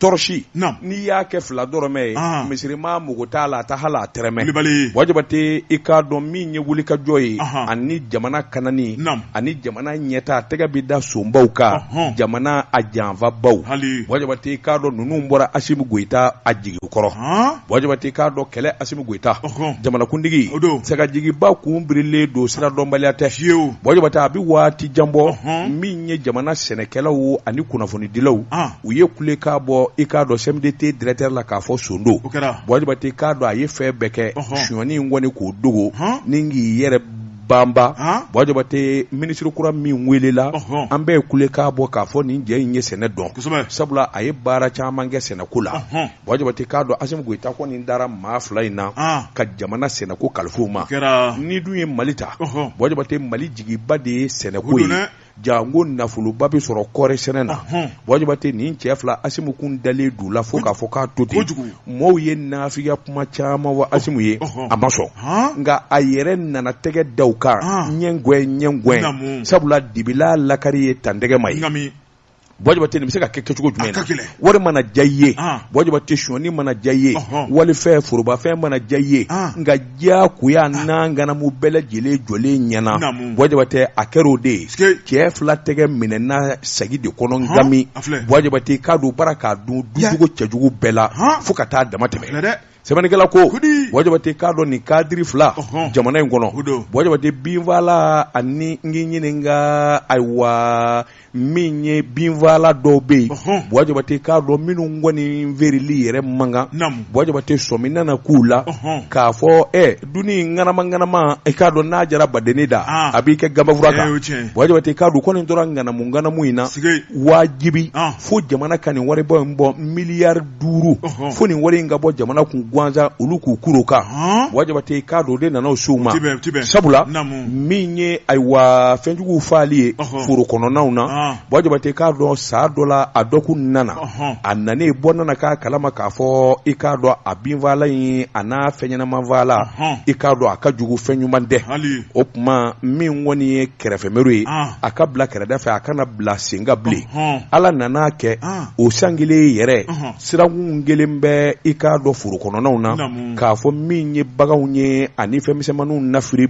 tɔrɔsi Naam. n'i y'a kɛ fila dɔrɔmɛ ye Ah. misirima mago t'a la a tɛ hali a tɛrɛmɛ Kulibali. buwa jabate i k'a dɔn min ye wulikajɔ ye Ahan. ani jamana kanani Naam. ani jamana ɲɛta a tɛgɛ bɛ da sonbaw kan Ɔhɔn. jamana a janfabaw Hali. buwa jabate i k'a dɔn ninnu bɔra asimu goyita a jigi kɔrɔ Han? buwa jabate i k'a dɔn kɛlɛ asimu goyita Ɔhɔn. jamanakuntigi O don. sagajigiba kun birilen don sira dɔnbaliya tɛ Fiyewu. buwa jabate a bɛ waati jan bɔ Ɔhɔn. min ye jamana sɛnɛkɛlaw ani kunnafonidilaw Ah. u ye kulekan bɔ i k'a dɔn sɛmudete dirɛkitɛri la k'a fɔ son don buwa jabate k'a dɔn a ye fɛn bɛɛ kɛ sonyani in kɔni k'o dogo ni k'i yɛrɛ banba buwa jabate minisiri kura min weele la an bɛɛ ye kulekan bɔ k'a fɔ nin cɛ in ye sɛnɛ dɔn sabula a ye baara caman kɛ sɛnɛko la buwa jabate k'a dɔn asimu goyita kɔni dara maa fila in na ka jamana sɛnɛko kalifa u ma nin dun ye mali ta buwa jabate mali jigiba de ye sɛnɛko ye janko nafoloba bɛ sɔrɔ kɔɔri sɛnɛ na buwa jabate nin cɛ fila asimu kun dalen d'u la fo k'a fɔ k'a to ten maaw ye nafigiya kuma caman fɔ asimu ye a ma sɔn nka a yɛrɛ nana tɛgɛ da u kan ɲɛ ɲɛ sabula dibi la lakari ye tantɛgɛ ma ye buwa jabate nin bɛ se ka kɛ kɛcogo jumɛn na wari mana diya i ye buwa jabate sonyani mana diya i ye walifɛn forobafɛn mana diya i ye nka diya koya n'a ŋanamu bɛɛ lajɛlen jɔlen ɲɛ na buwa jabate a kɛra o de ye cɛ fila tɛgɛ minɛna segi de kɔnɔ gami buwa jabate k'a don u bara k'a dun duncogo cɛjugu bɛɛ la fo ka taa dama tɛmɛ sɛbɛnnikɛla ko Kudi. buwa jabate k'a dɔn nin kadiri fila Ɔhɔn. jamana in kɔnɔ O don. buwa jabate binfaala ani n k'i ɲininka ayiwa min ye binfaala dɔw bɛ yen Ɔhɔn. buwa jabate k'a dɔn minnu kɔni feereli yɛrɛ man kan Naamu. buwa jabate sɔmi nana k'u la Ɔhɔn. k'a fɔ ɛ dunni ŋanama ŋanama i k'a dɔn n'a diyara badennin da Ah. a b'i kɛ gabafura Eh, kan o ye tiɲɛ ye. buwa jabate k'a dɔn ko nin tora ŋanamu ŋanamu in na Sige. wajibi Ah. fo jamana ka nin waribɔ in bɔ miliyari duuru fo nin wari in ka bɔ jamana kun gansan olu k'u kuru a kan buwa jabate i k'a dɔn o de nana se u ma sabula min ye ayiwa fɛnjuguw faali ye foro kɔnɔnaw na buwa jabate k'a dɔn san dɔ la a dɔ kun nana a nane bɔ nana k'a kalama k'a fɔ i k'a dɔn a binfaala in ani a fɛnɲɛnamafaala i k'a dɔn a ka jugu fɛn ɲuman tɛ o tuma min kɔni ye kɛrɛfɛmeri ye ah. a ka bila kɛrɛda fɛ a kana bila sen kan bilen ala nana kɛ ah. o san kelen yɛrɛ sirakun kelen bɛ i k'a dɔn foro kɔnɔnaw na k'a fɔ min ye baganw ye ani fɛnmisɛnw na firi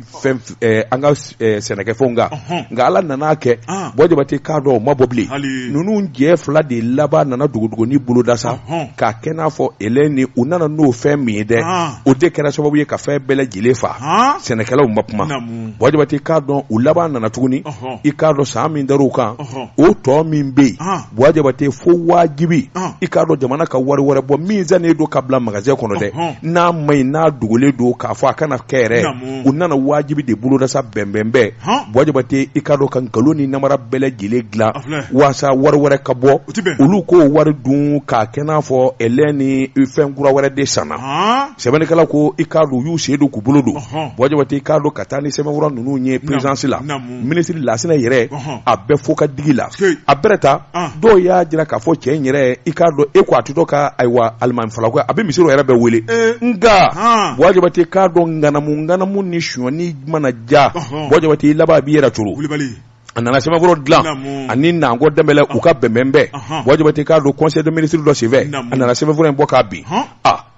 eh, an ka eh, sɛnɛkɛfɛnw kan nka ala nana kɛ ah. buwa jabate k'a dɔn o ma bɔ bilen ninnu cɛ fila de laban nana dogodogonin boloda sa k'a kɛ n'a fɔ ele ni u nana n'o fɛn min ye dɛ o de kɛra sababu ye ka fɛn bɛɛ lajɛlen faa sɛnɛkɛlaw ma kuma Buwa Jabate i k'a dɔn u laban nana tuguni i k'a dɔn san min dar'u kan o tɔ min bɛ yen Buwa Jabate fo wajibi i k'a dɔn jamana ka wari wɛrɛ bɔ min sannen don ka bila magasin kɔnɔ dɛ n'a man ɲi n'a dogolen don k'a fɔ a kana kɛ yɛrɛ u nana wajibi de boloda sa bɛnbɛnbɛn Buwa Jabate i k'a dɔn ka nkalon ni namara bɛɛ lajɛlen dilan walasa wari wɛrɛ ka bɔ olu k'o wari dun k'a kɛ n'a fɔ ɛlɛn ni fɛn kura wɛrɛ de sanna sɛbɛnnikɛla ko i k'a dɔn u y'u sen don k'u bolo don Buwa Jabate i k'a dɔn ka taa ni sɛbɛnfura ninnu ye perezidansi la minisiri Lasinɛ yɛrɛ a b'a fɔ ka digi a la a bɛ ta dɔw y'a jira k'a fɔ cɛ in yɛrɛ i k'a dɔn e ko a to dɔ ka ayiwa alimami fala a bɛ misiri yɛrɛ bɛɛ wele nka Buwa Jabate i k'a dɔn ŋanamu ŋanamu ni sonyani mana ja Buwa Jabate i laban a b'i yɛrɛ cogo a nana sɛbɛnfura dilan ani Nango Danbele u ka bɛnbɛnbɛn Buwa Jabate i k'a dɔn conseil des ministres dɔ senfɛ a nana sɛbɛnfura in bɔ k'a bin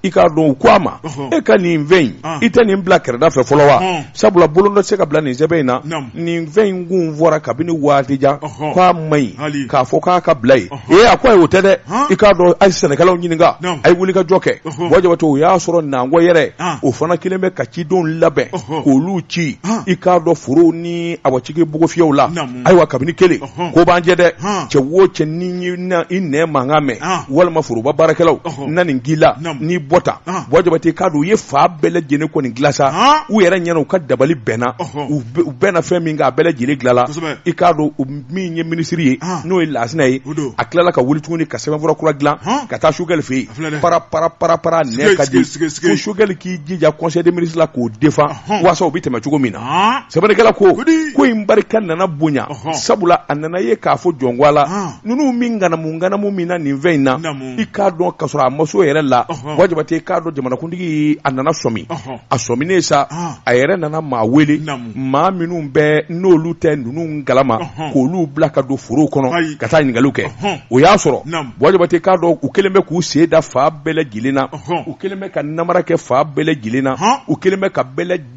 i k'a dɔn u ko a ma e ka nin fɛn in i tɛ nin bila kɛrɛda fɛ fɔlɔ wa sabula bolonɔ tɛ se ka bila nin sɛbɛn in na nin fɛn in kun fɔra kabini waati jan k'a man ɲi k'a fɔ k'a ka bila yen ee a ko ayi o tɛ dɛ i k'a dɔn a ye sɛnɛkɛlaw ɲininka a ye wuli ka jɔ kɛ Buwa Jabate o y'a sɔrɔ Nango yɛrɛ o fana kɛlen bɛ ka cidenw labɛn k'olu ci i k'a dɔn forow ni awa cikɛbugufiyɛw la ayiwa kabini kelen ko b'an jɛ dɛ cɛ o cɛ ni i ne mankan mɛn walima foroba baarakɛlaw na nin k'i la n'i bɔ ta Buwa Jabate i k'a dɔn u ye fan bɛɛ lajɛlen kɔni dila sa u yɛrɛ ɲɛna u ka dabali bɛnna u bɛnna fɛn min kan a bɛɛ lajɛlen dilala i k'a dɔn min ye minisiri ye n'o ye Lasinɛ ye a tilala ka wuli tuguni ka sɛbɛnfura kura dilan ka taa Sogɛli fɛ yen para para para para nɛ ka di ko Sogɛli k'i jija conseil des ministres la k'o defan waasa o bɛ tɛmɛ cogo min na sɛbɛnnikɛla ko ko in barika nana bonya sabula a nana ye k'a fɔ jɔnko a la ninnu min ŋanamu ŋanamu min na nin fɛn in na i k'a dɔn ka sɔrɔ a maso yɛrɛ la Buwa Jabate i k'a dɔn jamanakuntigi a nana sɔmi a sɔminen sa a yɛrɛ nana maa wele maa minnu bɛ n'olu tɛ ninnu kalama k'olu bila ka don foro kɔnɔ ka taa ɲininkali kɛ o y'a sɔrɔ Buwa Jabate i k'a dɔn u kɛlen bɛ k'u sen da fan bɛɛ lajɛlen na u kɛlen bɛ ka namara kɛ fan bɛɛ lajɛlen na u kɛlen bɛ ka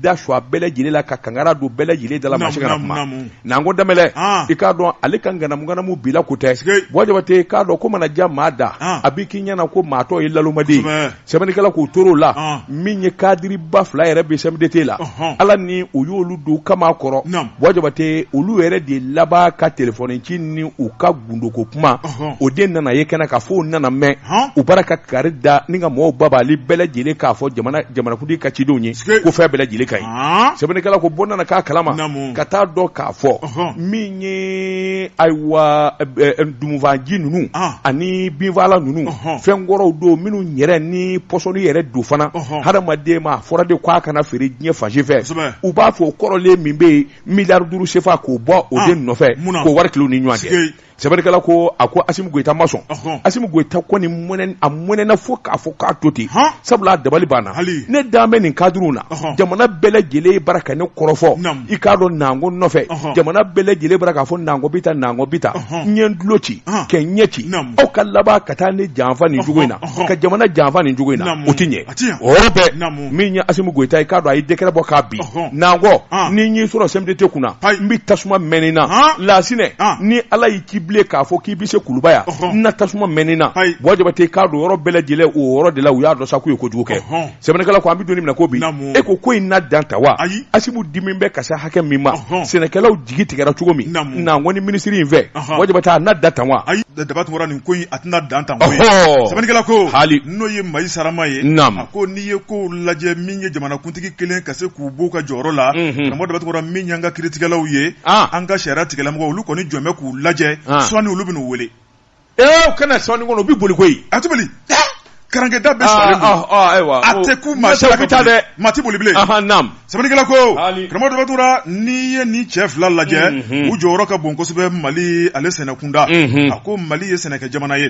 da su bɛɛ lajɛlen la ka kangara don bɛɛ lajɛlen da la u ma se ka kuma Nango Danbele i k'a dɔn ale ka ŋanamu ŋanamu bi la ko tɛ Buwa Jabate i k'a dɔn ko mana ja maa da a bɛ k'i ɲɛna ko maa tɔ ye naloma sɛbɛnnikɛla k'u tor'o la Ɔn. min ye kadiriba fila yɛrɛ bɛ CMDT la Ɔhɔn. ala ni u y'olu don kaman kɔrɔ Naam. Buwa Jabate olu yɛrɛ de laban ka telefɔni ci ni u ka gundoko kuma Ɔhɔn. o de nana ye kɛnɛ kan fo o nana mɛn Ɔn. u bara ka kari da ni ka mɔgɔw babali bɛɛ lajɛlen k'a fɔ jamana jamanakuntigi ka cidenw ye Sike. ko fɛn bɛɛ lajɛlen ka ɲi Ɔn. sɛbɛnnikɛla ko Buwa nana k'a kalama Naamu. ka taa dɔn k'a fɔ Ɔhɔn. min ye ayiwa tumufaaji ninnu ani binfaalan ninnu fɛn kɔrɔw don minnu yɛrɛ ni pɔsɔni yɛrɛ don fana hadamaden ma a fɔra de k' a kana feere diɲɛ fan si fɛ u b'a fɔ o kɔrɔlen min bɛ yen miliyari duuru sefa k'o bɔ o de nɔfɛ k'o wari tila u ni ɲɔgɔn cɛ sɛbɛnnikɛla ko a ko asimi goyita ma sɔn asimi goyita kɔni a mɔnɛna fo k'a fɔ k'a to ten sabula a dabali banna ne da bɛ nin kadiriw na jamana bɛɛ lajɛlen bɔra ka ne kɔrɔfɔ i k'a dɔn nango nɔfɛ jamana bɛɛ lajɛlen bɔra k'a fɔ nango bɛ taa nango bɛ taa ne tulo ci kɛ ɲɛ ci aw ka laban ka taa ne janfa nin cogo in na ka jamana janfa nin cogo in na o tɛ ɲɛ o bɛɛ min ye asimi goyita i k'a dɔn a ye dekɛrɛ bɔ ko bi nango ni n y'i sɔrɔ CMDT kunna n bɛ tasuma mɛnɛ i na lasinɛ ni ala y'i ci bilen k'a fɔ k'i bɛ se kuluba yan n na tasuma mɛnɛ i na wa jabatɛ i k'a dɔn yɔrɔ bɛɛ lajɛlen o yɔrɔ de la u y'a dɔn sa k'u ye kojugu kɛ sɛbɛnnikɛla ko an bɛ don min na ko bi e ko ko in na dan tan wa ayi asimi dimi bɛ ka se hakɛ min ma sɛnɛkɛlaw jigi tigɛra cogo min nango ni minisiri in fɛ wa jabatɛ a na dan tan wa ayi daba tunkaranin ko a tɛna dan tan sɛbɛnnikɛla ko hali n'o ye mayi sarama ye a ko n'i ye ko lajɛ min ye jamanakuntigi kɛlen ka se k'u b'u ka jɔyɔrɔ la karamɔgɔ daba tunkara min y'an ka kiritigɛlaw ye an ka sariya tigɛlamɔgɔ olu kɔni jɔlen bɛ k'u lajɛ sɔɔni olu bɛna u wele Ee kana sɔn kɔnɔ u bɛ boli koyi a tɛ boli karankɛda bɛ ayiwa a tɛ ku maa bɛ taa dɛ maa tɛ boli bilen sɛbɛnnikɛla ko karamɔgɔ daba tunkara n'i ye nin cɛ fila lajɛ u jɔyɔrɔ ka bon kosɛbɛ mali ale sɛnɛkunda a ko mali ye sɛnɛkɛ jamana ye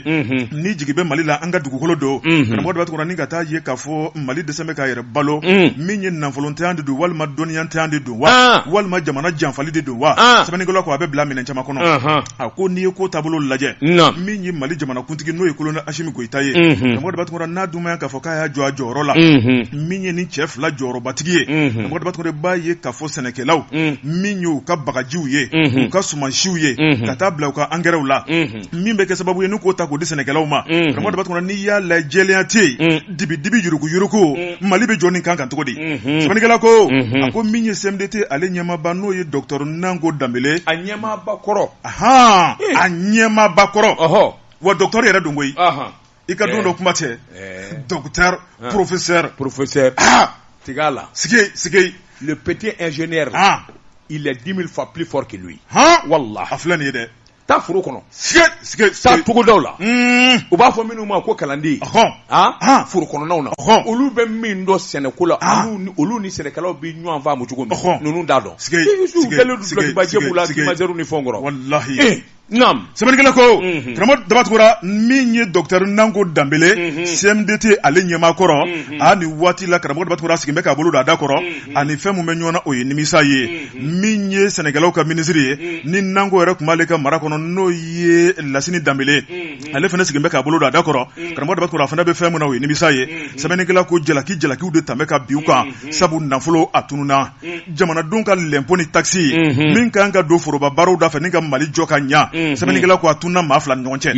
ni jigi bɛ mali la an ka dugukolo don karamɔgɔ daba tunkara ni ka taa ye k'a fɔ mali dɛsɛlen bɛ k'a yɛrɛ balo min ye nafolontanya de don walima dɔnniyantanya de don wa walima jamana janfali de don wa sɛbɛnnikɛla ko a b'i bila miirina caman kɔnɔ a ko n'i ye ko taabolo lajɛ min ye mali jamanakuntigi n'o ye kolonɛli asimi goyita ye karamɔgɔ daba tunkara n'a dunya k'a fɔ k'a y'a jɔ a jɔyɔrɔ la min ye nin cɛ fila jɔyɔrɔbatigi ye daba tunkara i b'a ye ka fɔ sɛnɛkɛlaw min ye u ka bagajiw ye u ka sumansiww ye ka taa bila u ka angɛrɛw la min bɛ kɛ sababu ye n' k'o ta k' di sɛnɛkɛlaw ma karamɔgɔ daba tunkara n'i y'a lajɛ jɛlenya tɛ yen dibi dibi yuruku yuruku mm. Mali bɛ jɔ nin kan kan cogo di mm-hmm. sɛbɛnnikɛla ko mm-hmm. a ko min ye CMDT ale ɲɛmaaba n'o ye docteur Nango Danbele a ɲɛmaaba kɔrɔ ahan eh. a ɲɛmaaba kɔrɔ ɔhɔ wa docteur yɛrɛ don koyi ahan i k'a dɔn eh. dɔ kuma tɛ eh. docteur ah. professeur professeur ah tigɛ a la sigi sigi le petit ingénieur ah il est 10 000 fois plus fort que lui han wallah a filɛ nin ye dɛ taa foro kɔnɔ taa togodaw la u b'a fɔ minnu ma ko kalanden foro kɔnɔnaw na olu bɛ min dɔn sɛnɛko la olu ni sɛnɛkɛlaw bɛ ɲɔgɔn faamu cogo min ninnu t'a dɔn ni fɛn kɔrɔ sɛbɛnnikɛla ko karamɔgɔ daba tunkara min ye dɔkutɛri nango danbele CMDT ale ɲɛmaa kɔrɔ a nin waati la karamɔgɔ daba tunkara a sigilen bɛ k'a bolo don a da kɔrɔ ani fɛn min bɛ ɲɔgɔn na o ye nimisa ye min ye sɛnɛkɛlaw ka minisiri ye mm. ni nango yɛrɛ tun b'ale ka mara kɔnɔ n'o ye lasini danbele ye mm, mm. ale fana sigilen bɛ k'a bolo don a da kɔrɔ karamɔgɔ daba tunkara a fana bɛ fɛn min na o ye nimisa ye sɛbɛnnikɛla ko jalaki jalakiw de tun bɛ ka bin u kan sabu nafolo a tununa jamanadenw ka lɛnpo ni takisi mm-hmm. min ka kan ka don foroba baaraw da fɛ ni ka mali jɔ ka ɲa mm-hmm. sɛbɛnnikɛla ko a tununa maa fila ni ɲɔgɔn cɛ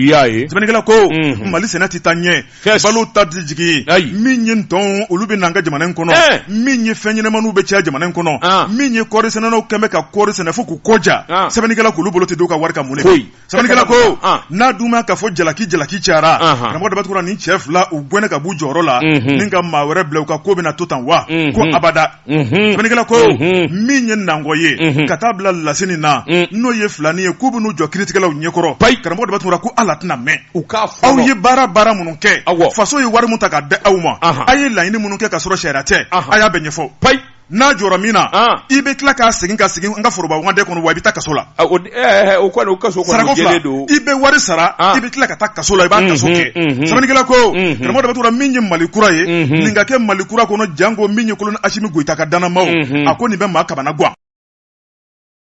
sɛbɛnnikɛla ko mm-hmm. mali sɛnɛ tɛ taa ɲɛ Yes. balo da tɛ jigin Ayi. min ye ntɔn olu bɛ na an ka jamana in kɔnɔ Eh. min ye fɛnɲɛnamaniw bɛ caya jamana in kɔnɔ Ah. min ye kɔɔri sɛnɛnaw kɛlen bɛ ka kɔɔri sɛnɛ fo k'u kɔ ja Ah. sɛbɛnnikɛla k'olu bolo tɛ don u ka wari kan mun de Foyi. sɛbɛnnikɛla ko Ah. n'a dun ma k'a fɔ jalaki jalaki cayara Aha. karamɔgɔ daba tunkara nin cɛ fila u gɛnnen ka b'u jɔyɔrɔ la Mhm. ni ka maa wɛrɛ bila u ka ko bɛna to tan wa Mhm. ko abada sɛbɛnnikɛla ko min ye nango ye ka taa bila lasini na n'o ye filanin ye k'u bɛn'u jɔ kiritigɛlaw ɲɛkɔrɔ karamɔgɔ daba tunkara ko ala tɛna mɛɛn u k'a fɔ aw ye baara baara minnu kɛ faso ye wari min ta ka di aw ma aw ye laɲini minnu kɛ ka sɔrɔ sariya tɛ a y'a bɛɛ ɲɛfɔ n'a jɔra min na i bɛ tila k'a segin ka segin an ka foroba wagande kɔnɔ wa i bɛ taa kaso la Eh, eh, o kɔni o kaso sarako fila i bɛ wari sara ah. i bɛ tila ka taa kaso la i b'a kaso kɛ sɛbɛnnikɛla ko karamɔgɔ daba tunkara min ye mali kura ye nin ka kɛ mali kura kɔnɔ janko min ye kolonɛli asimi goyita ka dannamaaw a ko nin bɛ maa kamanagan